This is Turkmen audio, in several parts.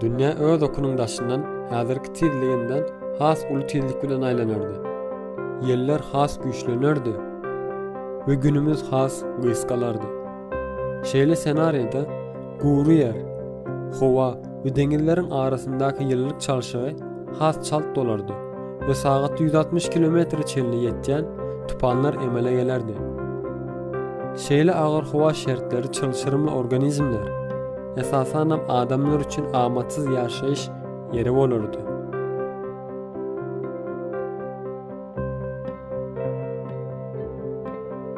Dünýä öz okunyň daşyndan häzirki tizliginden has uly tizlik bilen aýlanardy. Ýeller has güýçlenerdi we günümiz has gysgalardy. Şeýle ssenariýada gury ýer, howa we deňizleriň arasyndaky ýylylyk çalşygy has çalt bolardy we sagatda ýüz altmyş kilometre çenli ýetýän tupanlar emele gelerdi. Şeýle agyr howa şertleri çylşyrymly organizmler, esasanam adamlar üçin amatsyz ýaşaýyş ýeri bolardy.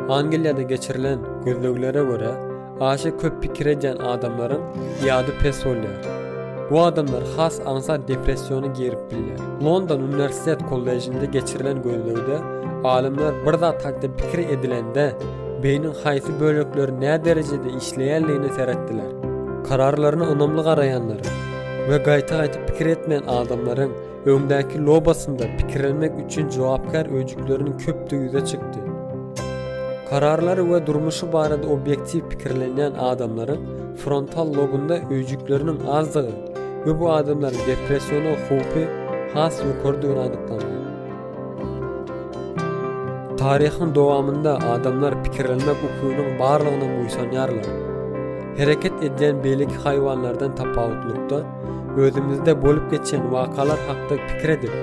Angliýada geçirilen gözleglere görä, aşa köp pikir edýän adamlaryň ýady pes bolýar. Bu adamlar has aňsat depressiýona girip bilýär. London uniwersitet kollejinde geçirilen gözlegde alymlar bir zat hakda pikir edilende beýniň haýsy bölekleri näderejede işleýändigine seretdiler. Kararlaryna ynamly garaýanlaryň we gaýta-gaýta pikir etmeýän adamlaryň Öňdäki lobasynda pikirlenmek üçin jogapkär öýjükleriniň köpdügi ýüze çykdy. Kararlary we durmuşy barada obýektiw pikirlenýän adamlaryň frontal lobunda öýjükleriniň azdygy we bu adamlaryň depressiýona howpy has ýokarydygyny anyklandy. Taryhyň dowamynda adamlar pikirlenmek ukynyň barlygyna buýsanýarlar. Hereket edýän beýleki haýwanlardan tapawutlykda, Özümizde bolup geçen wakalar hakda pikir edip,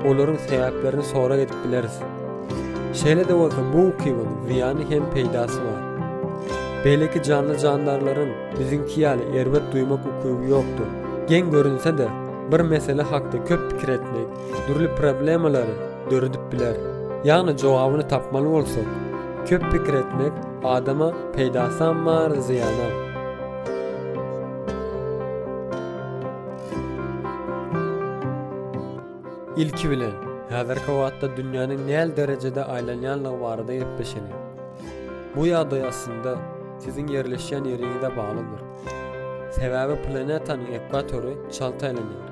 olaryň sebäplerini sorag edip bileris. Şeýle-de bolsa, bu ukybyň zyýany hem peýdasy bar. Beýleki janly-jandarlaryň biziňki ýaly erbet duýmak ukyby ýokdur. Geň görünse-de, bir mesele hakda köp pikir etmek dürli problemalary döredip biler. Ýagny jogabyny tapmaly bolsak, köp pikir etmek adama peýdasam bar, zyýanam. Ilki bilen, häzirki wagtda dünýäniň näl derejede aýlanýanlygy barada gepleşeli. Bu ýagdaý aslynda siziň ýerleşýän ýeriňize baglydyr. Sebäbi planetanyň ekwatory çalt aýlanýar.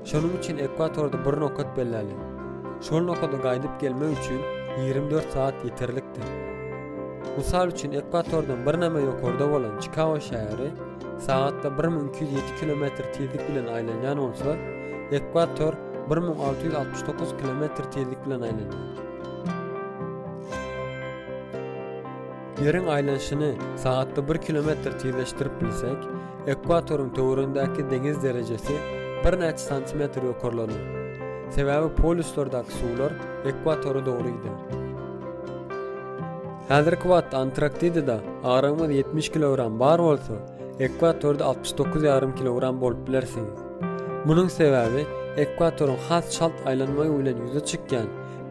Şonuň üçin ekwatorda bir nokat belläliň. Şol nokada gaýdyp gelmek üçin ýigrimi dört sagat ýeterlikdir. Mysal üçin, ekwatordan birneme ýokarda bolan Çikago şäheri sagatda bir müň iki ýüz ýedi kilometr tizlik bilen aýlanýan bolsa, ekwator bir müň alty ýüz altmyş dokuz kilometr tizlik bilen aýlanýar. Ýeriň aýlanyşyny sagatda bir kilometr tizleşdirip bilsek, ekwatoryň töweregindäki deňiz derejesi birnäçe santimetr ýokarlanar. Sebäbi polýuslardaky suwlar ekwatory dogry gider. Häzirki wagtda Antarktidada agramyňyz ýetmiş kilogram bar bolsa, ekwatorda altmyş dokuz ýarym kilogram bolup bilersiňiz. Munuň sebäbi ekwatoryň has çalt aýlanmagy bilen ýüze çykýan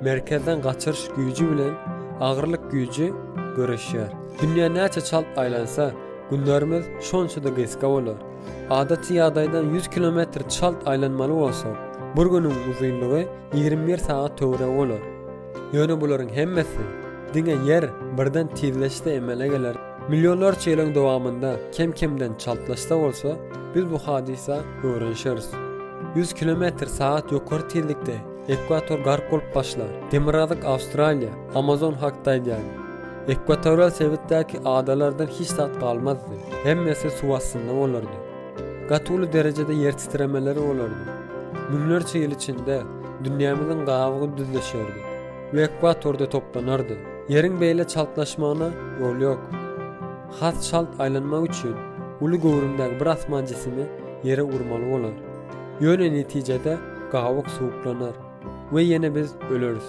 merkezden gaçyryş güýji bilen agyrlyk güýji göreşýär. Dünýä näçe çalt aýlansa, günlerimiz şonça-da gysga bolar. Adaty ýagdaýdan ýüz kilometr çalt aýlanmaly bolsak, bir günüň uzynlygy ýigrimi bir sagat töweregi bolar. Ýöne bularyň hemmesi diňe Ýer birden tizleşse emele geler. Millionlarça ýylyň dowamynda kem-kemden çaltlaşsa bolsa, biz bu hadysa öwrenişeris. Ýüz kilometr sagat ýokary tizlikde ekwator gark bolup başlar. Demirgazyk Awstraliýa, Amazon hakda aýdýan. Ekwatorial sebitdäki adalardan hiç zat galmazdy. Hemmesi suw astynda bolardy. Gaty uly derejede ýer titremeler bolardy. Müňlerçe ýyl içinde dünýämiziň gabygy düzleşerdi we ekwatorda toplanardy. Ýeriň beýle çaltlaşmagyna ýol ýok. Has çalt aýlanmak üçin uly göwrümdäki bir asman jisimi ýere urmaly bolar. Ýöne netijede gabyk suwuklanar we ýene biz öleris.